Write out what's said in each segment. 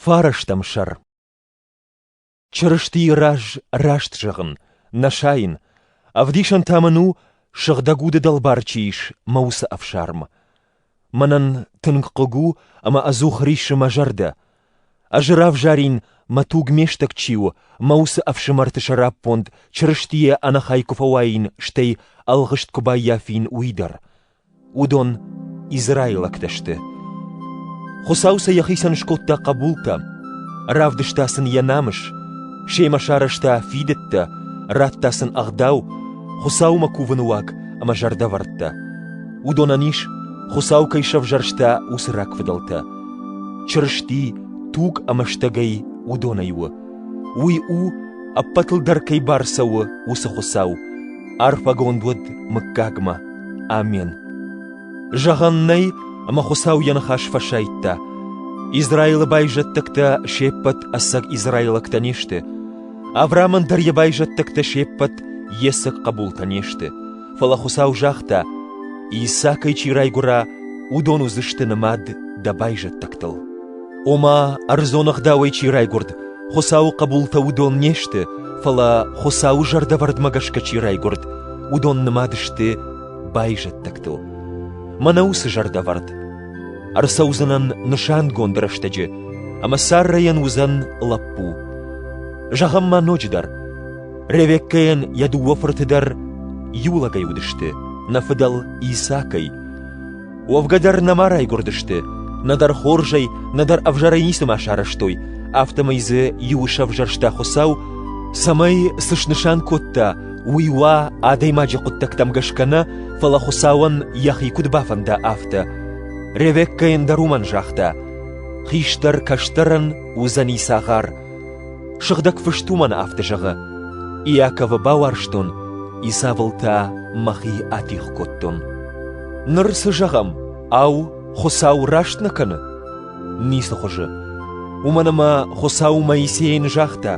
Фарастӕм сӕр Чырыстийы раз раст зӕгъын, нӕ сайын, ӕвдисӕн та мын у, сыгъдӕг уды дӕлбар чи ис мӕ уыцы ӕфсарм. Мӕнӕн тынг хъыг у ӕмӕ ӕдзух риссы мӕ зӕрдӕ. Ӕз равзарин, мӕ туг ме стӕг чи у, мӕ уыцы ӕфсымӕрты сӕраппонд Чырыстийӕ ӕнӕхай куы фӕуаин, стӕй ӕлгъыст куы баййафин, уый дӕр. Уыдон израилӕгтӕ сты. Хуыцау сӕ йӕхицӕн скодта хъӕбултӕ, равдыста сын йӕ намыс, семӕ сарӕзта фидыдтӕ, радта сын ӕгъдау, Хуыцаумӕ кувыны уаг ӕмӕ зӕрдӕвӕрдтӕ. Уыдонӕн ис, Хуыцау кӕй сӕвзӕрста, уыцы рагфыдӕлтӕ. Чырысти туг ӕмӕ стӕгӕй уыдонӕй у. Уый у, ӕппӕтыл дӕр кӕй бар цӕуы, уыцы Хуыцау. Арфӕгонд уӕд мыггагмӕ. Амен. Зӕгъӕн нӕй, ӕмӕ Хуыцау йӕ ныхас фӕсайдта. Израилы байзӕддӕгтӕ се ппӕт ӕцӕг израилӕгтӕ не сты. Авраамӕн дӕр йӕ байзӕддӕгтӕ се ппӕт йе цӕг хъӕбултӕ не сты. Фӕлӕ Хуыцау загъта, Исакӕй чи райгуыра, уыдон уыдзысты нымад дӕ байзӕддӕгтыл. Ома, ӕрдзон ӕгъдауӕй чи райгуырд, Хуыцауы хъӕбултӕ уыдон не сты, фӕлӕ, Хуыцауы зӕрдӕвӕрдмӕ гӕсгӕ чи райгуырд, уыдон нымад сты байзӕддӕгтыл. Мӕнӕ уыцы зӕрдӕвӕрд. Ӕрцӕудзынӕн нысангонд рӕстӕджы, ӕмӕ Саррайӕн уыдзӕн лӕппу. Зӕгъӕм ма ноджыдӕр. Ревеккӕйӕн йӕ дыууӕ фырты дӕр иу лӕгӕй уыдысты, нӕ фыдӕл Исакӕй. Уӕвгӕ дӕр нӕма райгуырдысты, нӕдӕр хорзӕй, нӕдӕр ӕвзӕрӕй ницыма сарӕзтой, афтӕмӕй дзы иу сӕвзӕрста Хуыцау, цӕмӕй цы снысан кодта, уый уа адӕймаджы хъуыддӕгтӕм гӕсгӕ нӕ, фӕлӕ Хуыцауӕн йӕхи куыд бафӕнда, афтӕ. Ревеккӕйӕн дӕр уымӕн загъта: «Хистӕр кӕстӕрӕн уыдзӕни цагъар». Сыгъдӕг Фыст уымӕн афтӕ зӕгъы: «Иаковы бауарзтон, Исавыл та мӕхи атигъ кодтон». Ныр цы зӕгъӕм, ау, Хуыцау раст нӕ кӕны? Ницы хуызы. Уымӕн ӕмӕ Хуыцау Моисейӕн загъта: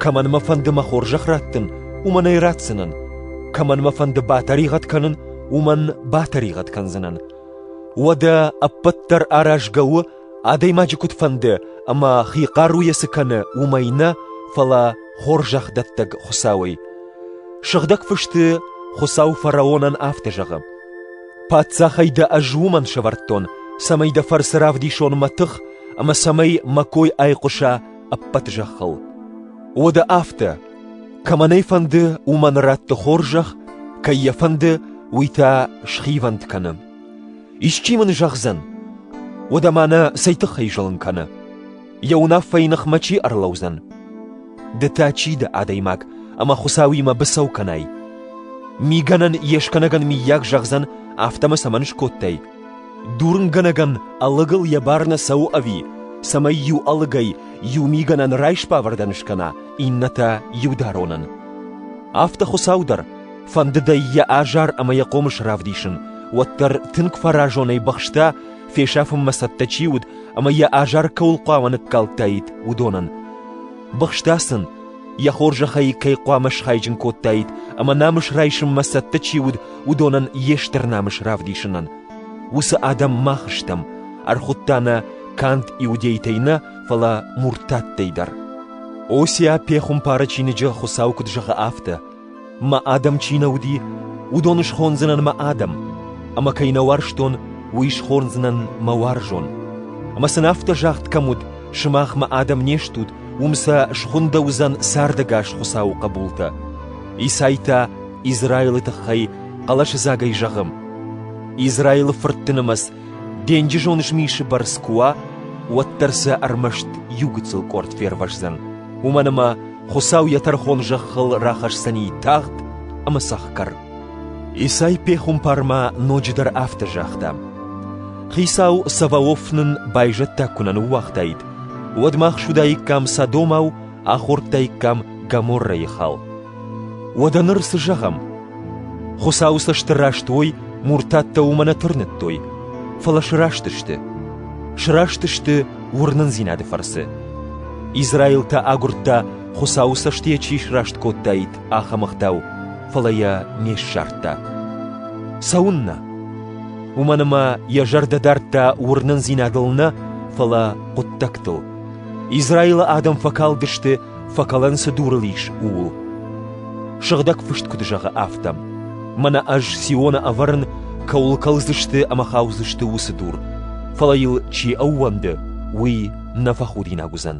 «Кӕмӕн мӕ фӕнды мӕ хорзӕх раттын, уымӕн ӕй ратдзынӕн, кӕмӕн мӕ фӕнды батӕригъӕд кӕнын, уымӕн батӕригъӕд кӕндзынӕн. Уӕдӕ ӕппӕт дӕр аразгӕ у Адӕймаджы куыд фӕнды, ӕмӕ хи хъаруйӕ цы кӕны, уымӕй нӕ, фӕлӕ хорзӕхдӕттӕг Хуыцауӕй. Сыгъдӕг Фысты Хуыцау фараонӕн афтӕ зӕгъы: «Паддзахӕй дӕ ӕз уымӕн сӕвӕрдтон, цӕмӕй дӕ фӕрцы равдисон мӕ тых ӕмӕ цӕмӕй мӕ кой айхъуыса ӕппӕт зӕххыл». Уӕдӕ афтӕ: кӕмӕн ӕй фӕнды, уымӕн радты хорзӕх, кӕй йӕ фӕнды, уый та схивӕнд кӕны. Исчи мын зӕгъдзӕн, уӕдӕ мӕнӕ цӕй тыххӕй зылын кӕны? Йӕ уынаффӕйы ныхмӕ чи ӕрлӕудзӕн? Ды та чи дӕ, адӕймаг, ӕмӕ Хуыцауимӕ быцӕу кӕнай? Мигӕнӕн йе скӕнӕгӕн миййаг зӕгъдзӕн, афтӕ мӕ цӕмӕн скодтай? Дурынгӕнӕгӕн ӕлыгыл йӕ бар нӕ цӕуы ӕви, цӕмӕй иу ӕлыгӕй иу мигӕнӕн райсбавӕрдӕн скӕна, иннӕ та иударонӕн? Афтӕ Хуыцау дӕр, Фӕндыд ӕй йӕ азар ӕмӕ йӕ хъомыс равдисын, уӕддӕр тынг фӕразонӕй бахста, фесӕфынмӕ цӕттӕ чи уыд ӕмӕ йӕ азар кӕуыл хъуамӕ ныккалдтаид, уыдонӕн. Бахста сын, йӕ хорзӕхӕй кӕй хъуамӕ схайджын кодтаид ӕмӕ намыс райсынмӕ цӕттӕ чи уыд, уыдонӕн йе стыр намыс равдисынӕн. Уыцы адӕм мах стӕм, ӕрхуыдта нӕ канд иудейтӕй нӕ, фӕлӕ муртаттӕй дӕр. Осия пехуымпары чиныджы Хуыцау куыд зӕгъы афтӕ: Мӕ адӕм чи нӕ уыди, уыдон схондзынӕн мӕ адӕм, ӕмӕ кӕй нӕ уарзтон, уый схондзынӕн мӕ уарзон. Ӕмӕ сын афтӕ загъд кӕм уыд, сымахмӕ адӕм не стут, уым сӕ схуындӕ уыдзӕн цардӕгас Хуыцауы хъӕбултӕ. Исай та Израилы тыххӕй хъӕлӕсыдзагӕй зӕгъы: Израилы фыртты нымӕц Денджызон змисы бӕрц куы уа, уӕддӕр сӕ ӕрмӕст иу гыццыл къорд фервӕздзӕн, уымӕн ӕмӕ Хуыцау йӕ тӕрхон зӕххыл рахӕсдзӕни тагъд ӕмӕ цӕхгӕр. Исай пехуымпармӕ ноджыдӕр афтӕ загъта: «Хицау Саваоф нын байзӕддаг куы нӕ ныууагътаид, уӕд мах суыдаиккам Содомау, ахордтаиккам Гоморрӕйы хал. Уӕдӕ ныр цы зӕгъӕм? Хуыцауы цӕсты раст уой, муртаттӕ уымӕ нӕ тырныдтой, фӕлӕ сраст сты. Сраст сты уырнындзинады фӕрцы. Израил та агуырдта, Хуыцауы цӕст йӕ чи сраст кодтаид, ахӕм ӕгъдау, фӕлӕ йӕ не ссардта. Цӕуыннӕ? Уымӕн ӕмӕ йӕ зӕрдӕ дардта уырнындзинадыл нӕ, фӕлӕ хъуыддӕгтыл. Израилы адӕм фӕкалдысты Фӕкӕлӕн цы дурыл ис, ууыл. Сыгъдӕг фыст куыд зӕгъы, афтӕ. Мӕнӕ ӕз Сиона ӕвӕрын, кӕуыл кӕлдзысты ӕмӕ хаудзысты уыцы дур, фӕлӕ йыл чи ӕууӕнды, уый нӕ фӕхудинаг уыдзӕн.